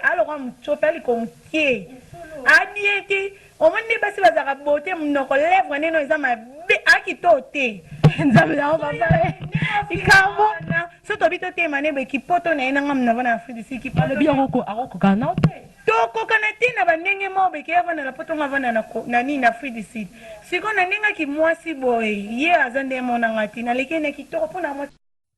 Aloka mutshopi aliko mukie a bien te omoni nde basi bazalaka beaute munoko lèvre nde no eza mabe a kito te nzambe na yo papa likambo na so tobi totema ne boye kipoto na ye na nga munava na afrique du sud kipoto alobi yango ko akokokana nao te tokokana te na ba ndenge moko boye ke ye avanda na poto nga avanda na na nini na afrique du sud sikoyo na ndenge ya kimwasi boye ye aza nde mona nga te naleki ye na kitoko mpo na mwasi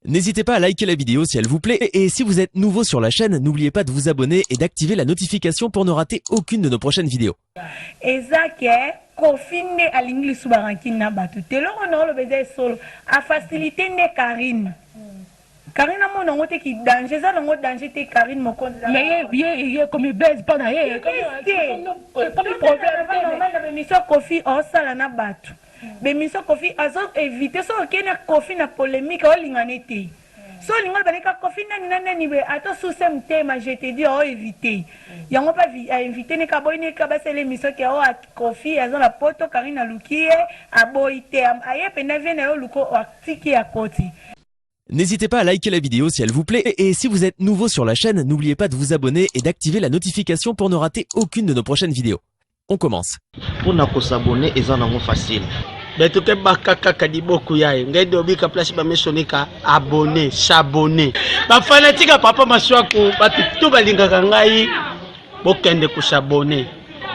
N'hésitez pas à liker la vidéo si elle vous plaît et si vous êtes nouveau sur la chaîne, n'oubliez pas de vous abonner et d'activer la notification pour ne rater aucune de nos prochaines vidéos. Ezake Kofi nde alingi lisusu barankine na bato te eloko na oloba eza esolo afacilite nde Karine Karine amona yango te ki danger eza nango danger te Karine mokonzi ye ekomi base mpo na ye ekomi problème te na emission Kofi osala na bato B'emission koffi azo eviter soki oke na koffi na polemique olinga ne te soki olingi oloba ne kaka koffi nani na nani boye ata osuse mutema je te dis o eviter yango pe a inviter ne kaka aboyi ne kaka basala emission ke oh koffi aza na poto carine aluki ye aboyi te aye penda vie naye oluka atiki ye akoti. N'hesitez pas à liker la vidéo si elle vous plaît et si vous êtes nouveau sur la chaîne, n'oubliez pas de vous abonner et d'activer la notification pour ne rater aucune de nos prochaines vidéos. On commence. Pour na ko s'abonner eza nango facile. Beto ke baka kaka liboku yaye ngai dobika place ba misoni ka abonner, s'abonner. Ba fanatique ya papa Masuaku batu tout balingaka ngai bokende ko s'abonner.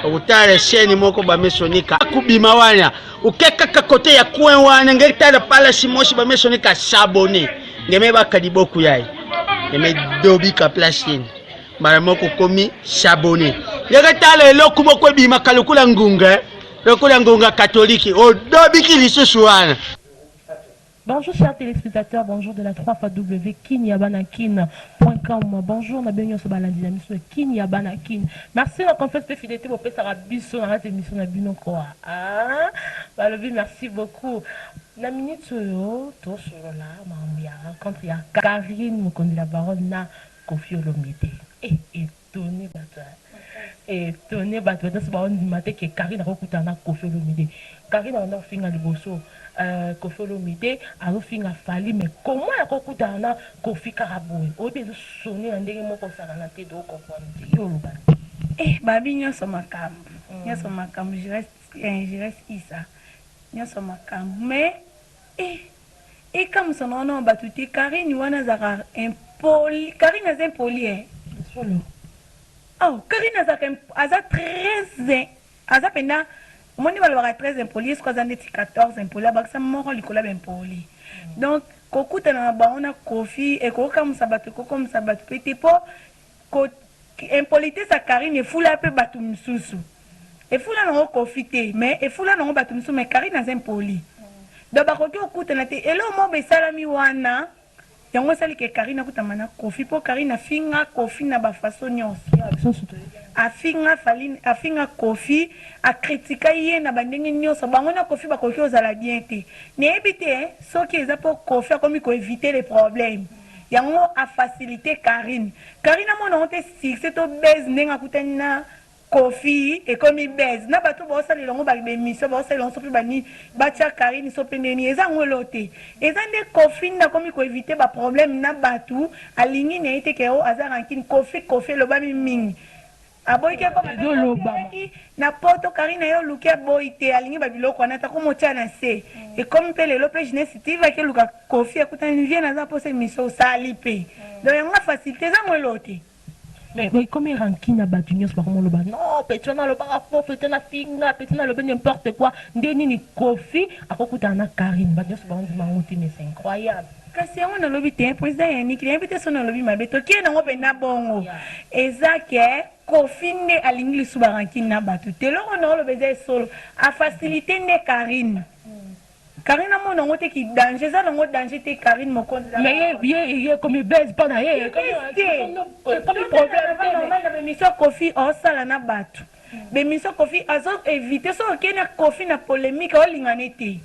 Utale chaîne moko ba misoni ka kubima wana. Uke kaka kote ya coin wana ngai tala pala simoshi ba misoni ka s'abonner. Ngeme baka liboku yaye. Ngeme dobika place yene. mbala moko okomi sabone ndenge tala eloko moko ebimaka lokola ngunga eh. lokola ngunga katoliki odobiki oh, lisusu wana Bonjour chers téléspectateurs, bonjour de la 3 fois W kinyabanakin.com. Bonjour na benyo so balandi na miso kinyabanakin. Merci na confiance pe fidélité bo pesa biso na rate mission na bino quoi. Ah, balobi merci beaucoup. Na minute oyo to solola mambo ya rencontre ya Karine Mokonzi la baronne na Koffi olomide eh etonne batu hein etonne batu ba nioso bao ndima te que carine ako kutana na koffi olomide carine abanda ko finga liboso euh koffi olomide azo finga fally mais comment ya ko kutana na koffi kaka boye oyebi ezo sonne na ndenge moko osakana te to comprendre te yo oloba nini. Eh babi nionso makambu nionso makambu je reste eh je reste Isa nionso makambu mais. Ehh ekamusama wana wa batu te carine wana azalaka impoli carine aza impoli eh ya solo oh carine azalaka aza tres aza penda omoni balobaka tres impoli ye siko aza ndeti 14 impoli abakisa moko likolo ya ba impoli donc kokutana na bango na koffi ekoki okamusa batu ekoki kokomisa batu pe te po Ko impolitesse ya Carine efula pe batu misusu efula nango Koffi te mais efula nango batu misusu mais Carine aza impoli donc bakoki kokutana te eloko moko boye esalami wana yango esali ke Carine akutama na Koffi po Carine afinga Koffi na ba façon nionso afinga Fally afinga Koffi a critika ye na ba ndenge nionso bango na Koffi bakoki kozala bien te nayebi te soki eza po Koffi akomi ko eviter les problèmes. Yango a facilite carine. Carine amona ngo te succès to buzz ndenge akutani na Koffi ekomi buzz na batu oyo bazo salela ngo ba emission bazo salela ngo sope ba nini batia carine sope ndenge nini eza ngo eloko te eza nde Koffi nde akomi ko eviter ba problème na batu alingi naye te ke oh aza rancune Koffi Koffi elobami mingi Aboyi te ekoma pe copyright na poto carine naye oluki aboyi te alingi ba biloko wana te akomi otia na se ekomi pe lelo pe jeunesse TV ake luka koffi akutani vieux naza posa emission osali pe donc yango na facilite eza moeloo te. Mais ekomi rancune ya batu nionso bakoma oloba non petit wana alobaka faux petit wana afinga petit wana alobi n'importe quoi nde nini koffi akokutana na carine batu nionso baondima yango te mais c'est incroyable. Kasi yango nalobi te president ya niki nayebi te soki nalobi mabe tokie nango mpenza bongo eza ke kofi nde alingi lisusu ba rancune na bato te eloko naoloba eza esolo afacilite nde carine Karine amona nango te ki danger eza nango danger te Karine Mokonzi ye ekomi buzz mpo na ye bemission kofi osala na bato bemission kofi azo evite soki okei na kofi na polemique olingana ete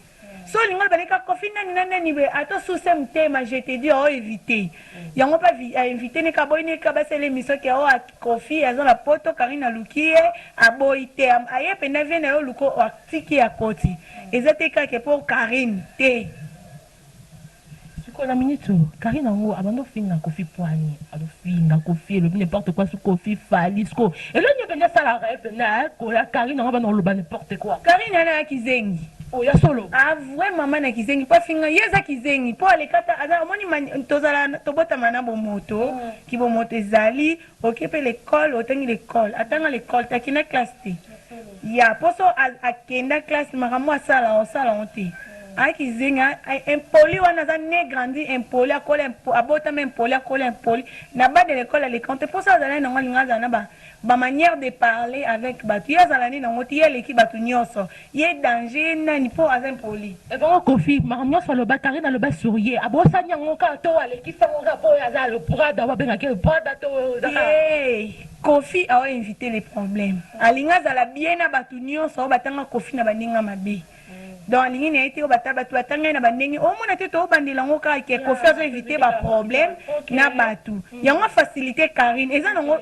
Soki olingi oloba leka koffi nani na nani boye ata osuse motema je te dis o eviter yango pe a invite ne ka aboyi ne ka basala emission ke o koffi aza na poto carine aluki ye aboyi te aye penza vie naye oluka atiki akoti eza te kaka ke pour carine te. Sikoyo na minute oyo carine yango abandi ofinga koffi puani azo finga koffi elobi ne porte quoi su koffi fally sikoyo eloko nini opengi asala reve naye koya carine yango abanda koloba ne porte quoi. Carine wana y'a kizengi. Oyo ya solo. A vrai maman na kizengi po afinga ye aza kizengi po aleka ata aza omoni mani tozala tobotama na bomoto kibomoto ezali. Oke pe l'ecole otangi l'ecole atanga l'ecole te akenda classe te ya poso akenda classe makambo asala osala ngo te aza kizengi impoli wana aza ne grandi impoli akola impoli abotama impoli akola impoli na bas de l'ecole aleka ngo te poso azala nango alinga azala na ba ba manière de parler avec batu ye azala ne nango te ye aleki batu nioso Ye danger ye nani po aza impoli. Ebongo koffi makambo nionso aloba carine aloba sur ye abosani yango kaka to alekisi yango kaka po ye aza le prada ba bengaka ye prada to eza kaka. Hee koffi au invite le problème alingi azala bien na batu nionso au batanga koffi na ba ndenge ya mabe donc alingi naye te obata batu batanga ye na ba ndenge omona te to bandela yango kaka ke koffi azo invite ba problème na batu yango a facilite carine eza nango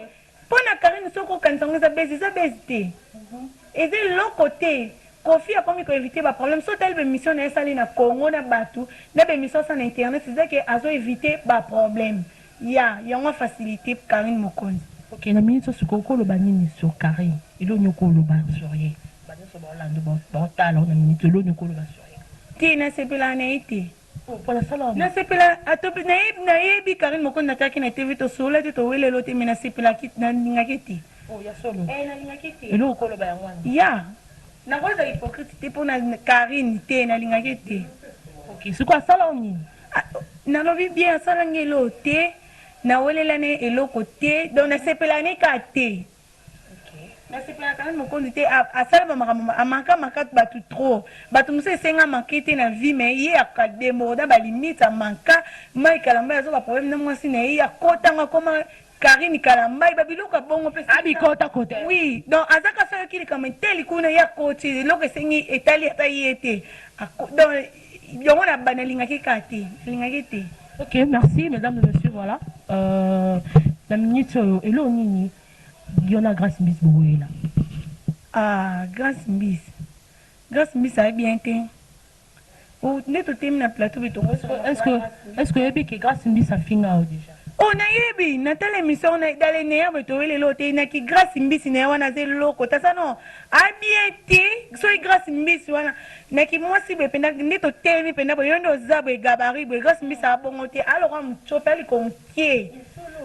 Pona Carine soki okanisa yango eza buzz eza buzz te eza eloko te Koffi akomi ko eviter ba problème soki otali ba emission naye asali na Congo na batu na ba emission asala na internet eza ke azo eviter ba problème ya yango a faciliter Carine Mokonzi. Ok na minutes oyo sikoyo oko loba nini sur Carine eloko nini oko loba sur ye ba nioso bao landa yo bao tala yo na minutes oyo eloko nini oko loba sur ye. Te nasepelaka na ye te. Na sepela atope nayebi nayebi carine mokonzi na tiaki na TV tosolola te towele lo te mais na sepela ki na linga ke te oh ya solo eh na linga ke te eloko kolo ba yango wana ya na ko za hypocrite te pona carine te na linga ke te ok siko asala o nini ah, na lobi bien asala ngelo te na welela ne eloko te donc na sepela ne ka te Na sepelaka na mokoli te asala ba makambo ma a manka manka batu trop batu mususu esenga manque te na vie mais ye a deborda ba limite a manka Mike kalambay aza ba problème na muasi na ye ye akota ngo akoma Carine kalambay ba biloko ya bongo pe a bikota kota oui donc aza kaka soki ayoki likambo eteli kuna ye akoti eloko esengi etali ata ye te ako donc Yango na ba nalingaki ka te nalingaki te. Ok merci mesdames et messieurs voilà euh, na minute oyo eloo nini yo na Grace Mbisi bokoyela? Ah Grace Mbisi Grace Mbisi aye bien te oh, nde totemi na plateau bi tongo est-ce que est-ce que oyebi que Grace Mbisi afinga yo déjà Oh nayebi natala emission na dale neya boye toyele lelo te na ki Grace Mbisi na ye wana aza eloko tasa no abie te soki Grace Mbisi wana Na ki mwasi boye penda nde totelemi penda boye yo nde oza boye gabarit boye grace mbisa a bongo te a lokola mutsopi a likonkie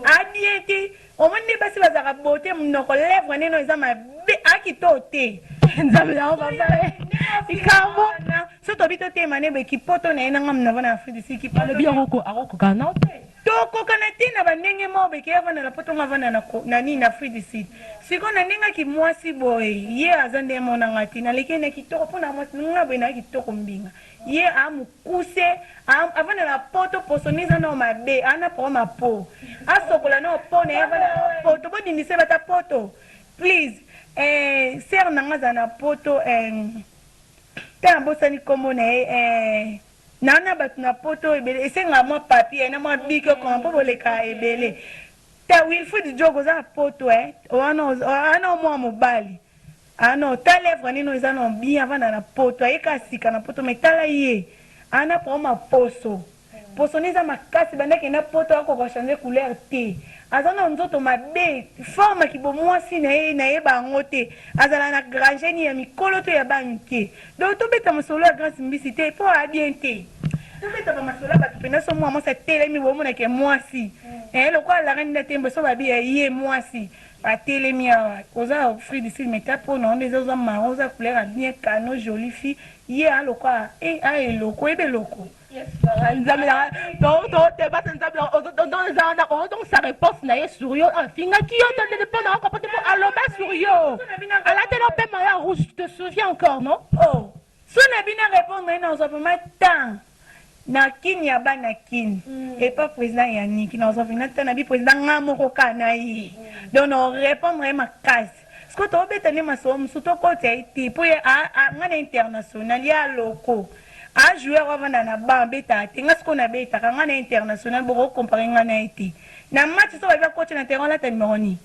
a bien te omoni nde basi bazalaka beaute munoko lèvre nde no eza mabe a kitoo te nzambe na yo papa likambo so tobi totema nde boye kipoto na ye na nga munava na afrique du sud kipoto alobi yango akokoka na yo te Tokokana te na ba ndenge moko beke ye avanda na poto nga avanda na na nini na afrique du sud sikoyo na ndenge ki muasi boye ye aza nde mona nga te na leki ye na kitoko pona muasi ndenge nga boye na kitoko mbinga ye a mukuse a avanda na poto poso ni eza nao mabe a na problème ya po asokola nao po na ye avanda na poto bo dindisa ye bata poto please eh sœur na nga aza na poto eh ta na bosani kombo na ye eh Na na batu na poto ebele esengaka mwa papier na mwa bic okoma po bolekaka ebele te wilfrid djogo oza na poto eh oa no oa no mua mobali ah no ta levre ne no eza no bien avanda na poto aye kaka sika na poto mais tala ye ah na problème ya poso poso ne eza makasi banda akende na poto ako ko changer couleur te aza no nzoto mabe forme ya ki bo muasi na ye na yeba yango te azala na graje ni ya mikolo to ya ba mike Donc to beta masolo ya Grace mbisi te po a bien te. To beta ba masolo ya batu pena so mua mwasi atelemi bo mona ke mwasi. Eh lokola la reine datembe so ba bi ya ye mwasi. Ba telemi awa. Oza free du sud mais ta po na onde oza marron oza couleur ya bien canon jolie fille ye a lokola eh a eloko oyebi eloko. nzambe nanga totebasa nzambe oza wana otonsa réponse na ye sur yo afingaki yo to ndene mpo na oko pote mpo aloba sur yo alatela mpe maya rouge te souviens encore non oh, so na bino répondre ye nazwa vraimen temps na kini ya bana kini mm. epa président yaniki nazwa vraimen temps na bi président nga moko ka na ye mm. donc na répondre ye makasi Sikoyo toko beta nde masolo mususu to koti ya ye te po ye a a nga na international ye a loko a joueur oyo avanda na banc abetaka te nga sikoyo na betaka nga na international bo ko compare nga na ye te na match soki ba lobi akoti na terrain olata numero nini?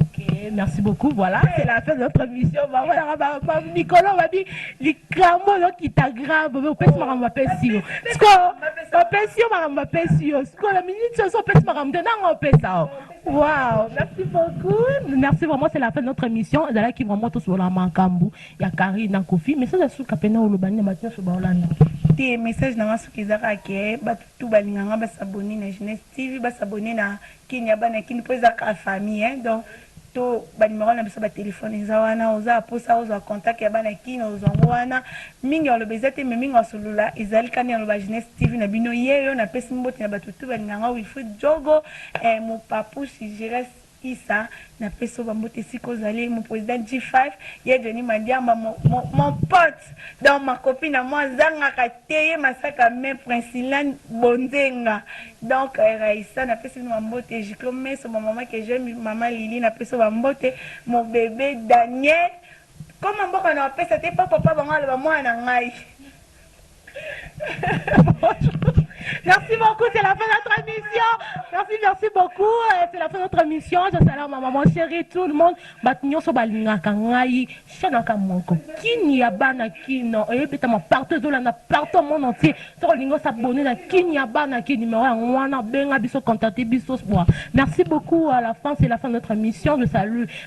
Ok merci beaucoup voila c'est la fin de notre emission ba monaka ba ba mikolo ba bi likambu ozo kita grave mais opesi makambo ba pesi yo sikoyo ba pesi yo makambo ba pesi yo sikoyo na minute ozo pesi makambo te nanga opesa yo Wow, merci beaucoup. Merci vraiment, c'est la fin de notre émission. Ezalaki vraiment tous la makambu ya Carrie na Kofi. Mais ça suka pena olobani na batina so baolanda. Te message na nga soki eza kaka ke batu tout balinga nga ba s'abonner na Jeunesse TV, ba s'abonner na Kin ya bana Kin po eza kaka famille hein. Donc to ba numero na biso ba telephone eza wana oza posa ozwa contact ya bana Kin ozwa ngo wana. Mingi oloba eza te mais mingi osolula ezali kani oloba Jeunesse TV na bino yeyo na pesi mbote na batu tout balinga nga Wilfried Jogo. Eh mopapouche Gires Issa na pesi yo ba mbote esika ozali mon president G-Five ye Johnny Mandiamba mon pote donc ma copine à moi azangaka te ye masaka me Princillane Bonzenga donc Raissa na pesi bino ba mbote Giclo Meso ba maman que j'aime maman Lili na pesi yo ba mbote mon bebe Daniel koma mboka na wapesa te po papa bango aloba mwana na ngai Merci beaucoup, c'est la fin de notre émission. Merci, merci beaucoup. Euh, c'est la fin de notre émission. Je salue ma maman chérie, tout le monde. Batignon so balingaka ngai, shanaka moko. Kini ya bana kino, oye eh, peta ma partout zola na partout mon entier. Soko lingo s'abonner na kini ya bana kini numéro ya ngwana benga biso contacter biso sport. Merci beaucoup à la fin, c'est la fin de notre émission. Je salue